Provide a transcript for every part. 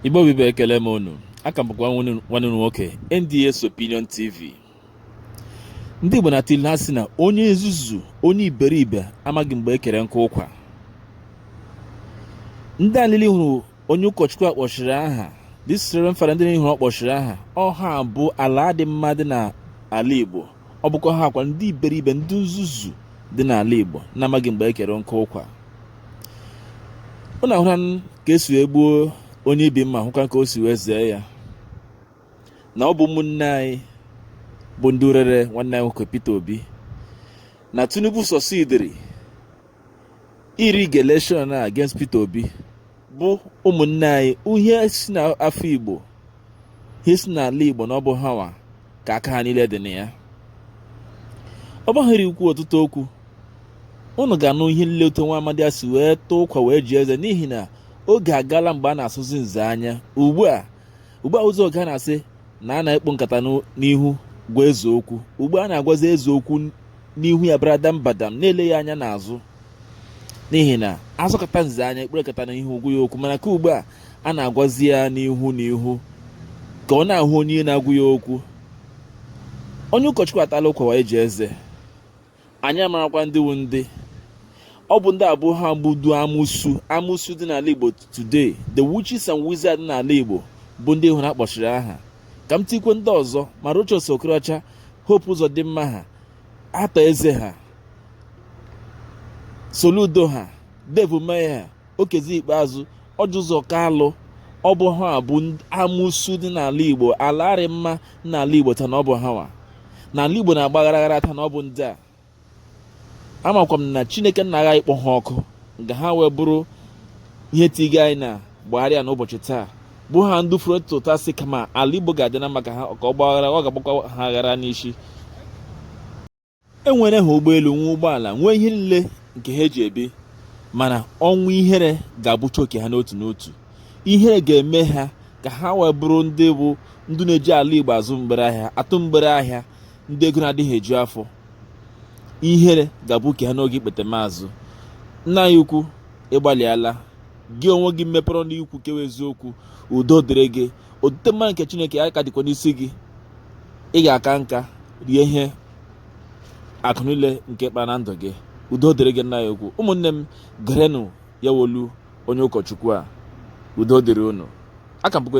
igbo bụ igbo ekele m unu aka m bụkwa nwanne unu nwoke NDS Opinion TV ndị igbo na-atụ ilu ha sị na onye nzuzu onye iberibe amaghị mgbe ekere nkụ ụkwa ndị a niile hụrụ onye ụkọchukwu a kpọchiri aha this reverend father ndị ị hụrụ ọ kpọchiri aha ọ ha bụ ala adị mma dị n'ala igbo ọ bụkwa ha akwa ndị iberibe ndị nzuzu dị n'ala igbo na-amaghị mgbe ekere nkụ ụkwa unu ahụlanụ ka e si wee gbuo onye ibi mma hụkwa ka o si wee zee ya na ọ bụ ụmụnne anyị bụ ndị rere nwanne anyị nwoke Peter Obi na Tinubu succeediri ịrig election a against Peter Obi bụ ụmụnne anyị ihe si n'afọ Igbo ihe si n'ala Igbo na ọ bụ ha nwa ka aka ha niile dị na ya ọ baghị uru ikwu ọtụtụ okwu unu ga-anụ ihe nile otu nwa amadi a si wee taa ụkwa wee ji eze n'ihi na oge agala mgbe a na-asọzi nze anya ugbu a ugbu a ụzọ oge a na-asị na a na-ekpu nkata n'ihu gwa eze okwu ugbu a a na-agwazi eze okwu n'ihu ya baradam badam na-eleghị anya n'azụ n'ihi na a sọkata nze anya e kpuru nkata n'ihu gwa ya okwu mana ka ugbu a a na-agwazi ya n'ihu na ihu ka ọ na-ahụ onye na-agwa ya okwu onye ụkọchukwu atala ụkwa wee ji eze anyị amarakwa ndị wu ndị ọ bụ ndị a bụ ọ ha bụ ndị amusu amusu dị n'ala igbo today the witches and wizards n'ala igbo bụ ndị ị hụrụ a kpọchiri aha ka m tikwe ndị ọzọ ma Rochas Okorocha Hope Uzodimma ha Arthur Eze ha Soludo ha Dave Umahi ha Okezie Ikpeazu Orji Uzor Kalu ọ bụ ha bụ amụsu dị n'ala igbo ala adị mma n'ala igbo taa na ọ bụ ha nwa na ala igbo na-agbaghara aghara taa na ọ bụ ndị a amakwa m na chineke nna agha ịkpọ ha ọkụ nga ha wee bụrụ ihe tiga anyị na gbagharịa n'ụbọchị taa bụ ha ndị furu tụta sị kama ala igbo ga-adị na maka ha ka ọ gbaghara ọ ga-agbakwa ha aghara n'isi enwere ha ụgbọelu nwee ụgbọala nwee ihe niile nke ha eji ebi mana ọnwụ ihere ga-abụcha oke ha n'otu n'otu ihere ga-eme ha ka ha wee bụrụ ndị bụ ndị na-eji ala igbo azụ mgbere ahịa atụ mgbere ahịa ndị ego na-adịghị eju afọ ihere ga-abụ oke ha n'oge ikpete maazụ nna anyị ukwu ị gbalịala gị onwe gị mepere ọnụ ikwu kewa eziokwu udo dịrị gị otite mmanụ nke chineke ya ka dịkwa n'isi gị ị ga-aka nka rie ihe akụ niile nke ị kpara na ndụ gị udo dịrị gị nna anyị ukwu ụmụnne m gerenụ ya wụ olu onye ụkọchukwu a udo dịrị unu aka m bụkwa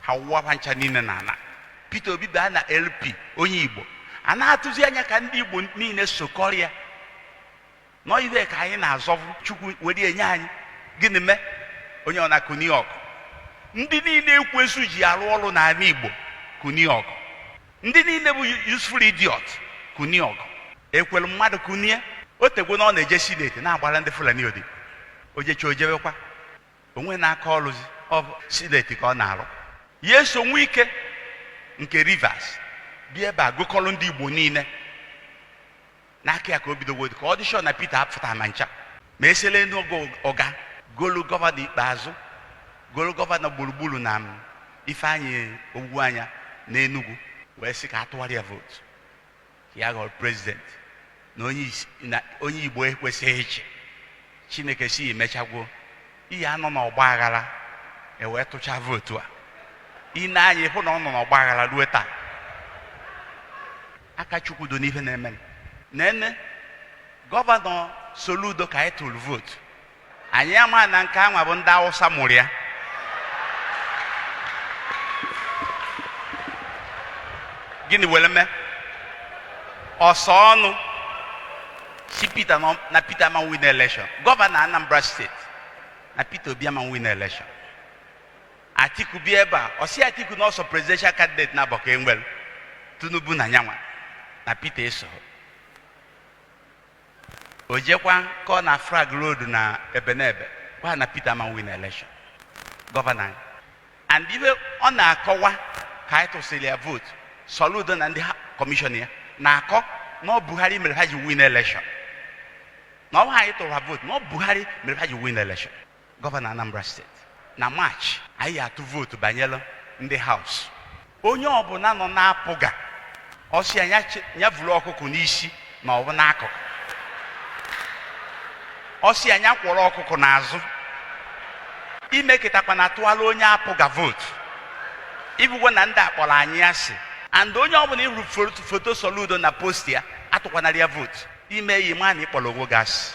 ha wụwa ha ncha niile n'ala Peter Obi baa na LP onye Igbo a na-atụzi anya ka ndị Igbo niile sokọrịa na ọ ihe ka anyị na-azọvu Chukwu were nye anyị gịnị mee onye ọ na-ekuni ọgụ ndị niile ekwensu ji arụ ọrụ n'ala Igbo kuni ọgụ ndị niile bụ useful idiot kuni ọgụ Ekweremadu kunie o tegwo na ọ na-eje sineti na-agbara ndị Fulani odibo o jechi o jebekwa o nwena aka ọrụzi ọ bụ sineti ka ọ na-arụ ya eso Wike nke Rivers bịa ebe a gụkọrọ ndị igbo niile n'aka ya ka o bidowo ka ọ dị sị na Peter apụta ma ncha ma esele n'ogo ọ gaa golu gọvanọ Ikpeazụ golu gọvanọ gburugburu na m, Ifeanyị Ugwuanyị n'Enugwu wee sị ka a tụwara ya vootu ya ghọrọ prezident na onye isi- na onye igbo ekwesịghị ịchị chineke sị e mechagwo ihe a nọ na ọgba aghara e wee tụcha vootu a i nee anya ị hụ na ọ nọ n'ọgba aghara ruo taa aka Chukwu dị n'ife na-eme nene gọvanọ Soludo ka anyị tụrụ vootu anyị ama na nke anwa bụ ndị awụsa mụrụ ya gịnị were mee ọsọ ọnụ sị Peter na Peter ama win election gọvanọ Anambra steeti na Peter Obi ama win election Atiku bịa ebe a ọ sị Atiku na ọ sọ presidential candidate nabọ ka e nwere Tinubu na nyanwa na Peter esoho o jekwa ka ọ na-flag road na Ebenebe gwa ha na Peter ama win election gọvanọ anyị and ihe ọ na-akọwa ka anyị tụsịrị ya vootu soludo na ndị ha- kọmishọn ya na-akọ na ọ buhari mere ha ji win election na ọ bụhọ anyị tụrụ ha vootu na ọ buhari mere ha ji win election gọvanọ Anambra steeti na Maachị anyị ya-atụ vootu banyere ndị haus onye ọbụla nọ na APGA ọ sị ya ya vuru ọkụkụ n'isi ma ọ bụ n'akụkụ ọ sị ya ya kwọrọ ọkụkụ n'azụ emekatakwana tụwara onye APGA vootu ị hụgwo na ndị a kpọrọ anyị asị and onye ọbụla ị hụrụ foto Soludo na post ya atụkwanara ya vootu i mee ya ma na ị kpọrọ onwe gị asị